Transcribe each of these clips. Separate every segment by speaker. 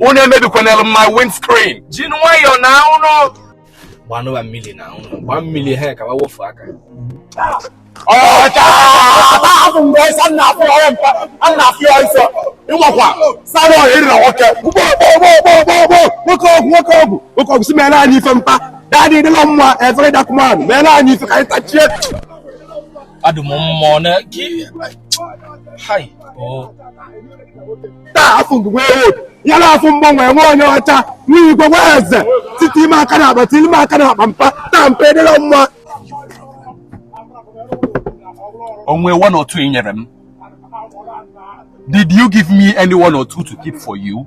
Speaker 1: unu emebikwanalụ my windscreen ji nwayọ
Speaker 2: na ụlọ gbanụ wa mmiri na ụlọ gba mmiri ha ka wofu
Speaker 3: aka ịmakwa sara ọhịa ịrịna nwoke nwoke ọgwụ nwoke ọgwụ nwoke ọgwụ si mere anyị ife mpa daddy dịla mma efere dakụmanụ mere anyị ife ka anyị tachie
Speaker 2: adụm mmụọ na gị hai
Speaker 3: taa afọ ngụgwe ewod ya na afọ mgbanwe nwa onye ọcha nwa igwe nwa eze site ime aka na akpa tili ime aka na akpa mpa taa mpa edela mma
Speaker 1: o nwe one or two i nyere m did you give me any one or two to keep for you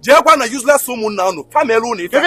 Speaker 3: jeekwa na useless ụmụnna unu ka m melu unu ife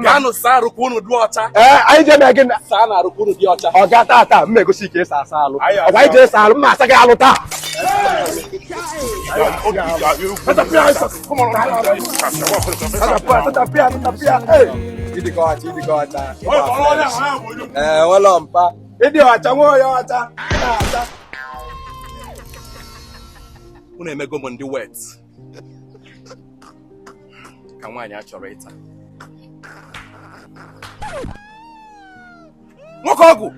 Speaker 3: gaanụ saa arụ ka unu dị ọcha anyị jee mee
Speaker 4: gịnị saanụ arụ ka unu
Speaker 3: dị ọcha ọga taa taa m ma egosi
Speaker 4: ka esi asa alụ ọ gwa anyị jee saa alụ m ma asa gị alụ taa ee nwelọ mpa ị dị ọcha nwa onye ọcha
Speaker 3: unu emego m dị wet ka nwaanyị a chọrọ ịta nwoke ọgwụ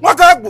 Speaker 3: nwoke ọgwụ